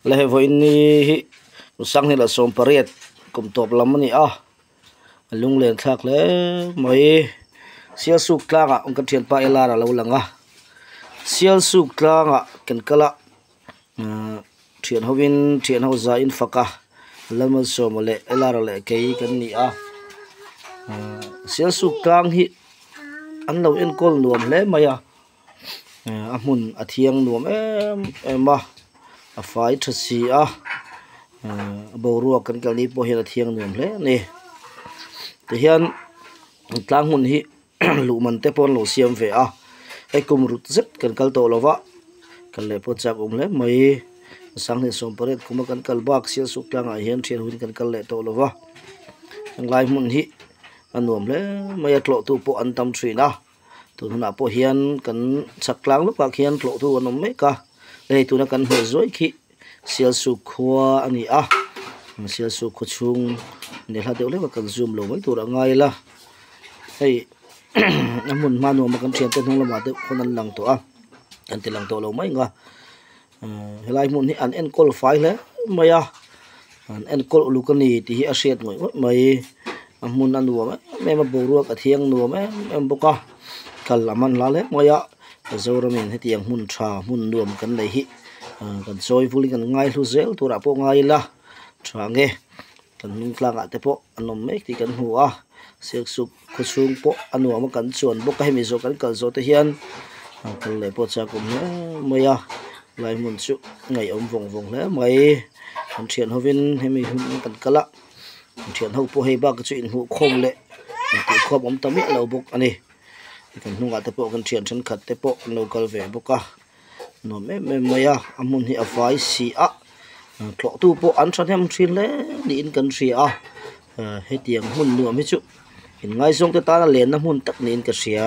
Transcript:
la he vawiin ni hi u sanghilh sawm pariat kum tawp lam a ni a a lung len thlak hle mai sial suk tlangah ka thianpa lar a lo lang a sial suk tlangah kan kal a. Aaa thian ho in thian ho za in faka Lalmal Sawma leh Elara leh kei kan ni a aaa Sialsuk tlang hi an lo enkawl nuam hle mai a aaa a hmun a thiang nuam em em a a fai tha si a aaa boruak kan kalh ni pawh hian a thiang nuam hle a ni tihian tlang hmun hi-- luhman te pawh an lo siam ve a hei kum rut zet kan kal tawh lo va kal leh pawh chak awm hle mai a sang hnen sawm pariat kuma kan kal bak sial suk tlang ah hian thian hun kan kal leh tawh lo va heng lai hmun hi a nuam hle mai a tlawh tu pawh an tam thin a tun hunah pawh hian kan chhak tlang lutuk ah khian tlawh tu an awm mek a hei tuna kan hmuh zuai khi-- Sialsuk khua a ni a, Sialsuk khua chhung nelha deuh hlek a kan zoom lo mai tur a ngai ila, hei a hmun hma nuam a kan thiante hnung lamah te pawn an lang tawh a, kan tilang tawh lo mai ang a, helai hmun hi an enkawl fai hle mai a. An enkawl uluk a ni tih hi a hriat ngawih ngawih mai. A hmun a nuam em em a, boruak a thiang nuam em em bawk a. Kal a man hla lek mai a. Mizoramin heti ang hmun tha hmun nuam kan nei hi aaa kan chawi vul in kan ngaihlu zel turah pawh ngai ila tha nge kan hnungtlangah te pawh a nawm mek tih kan hmu a. Silksuk-- Khuchhung pawh a nuam a kan chuan bawk a hemi zawh kan kal zawh te hian a kal leh pawh chak awm hle mai a lai hmun chu ngaihawm vawng vawng hle mai an thian hovin hemi hmun hi kan kal a an thian ho pawh hei bak hi chu inhmuh khawm leh intih khuap awm ta miah lo bawk a ni kan hnungah te pawh kan thian thenkhat te pawh an lo kal ve bawk a. nuam em em mai a a hmun hi a vai si ah tlawh tu pawh an thahnem thin hle niin kan hria a ah hetiang hmun nuam hi chu in ngaizawng te tana lenna hmun tak niin ka hria.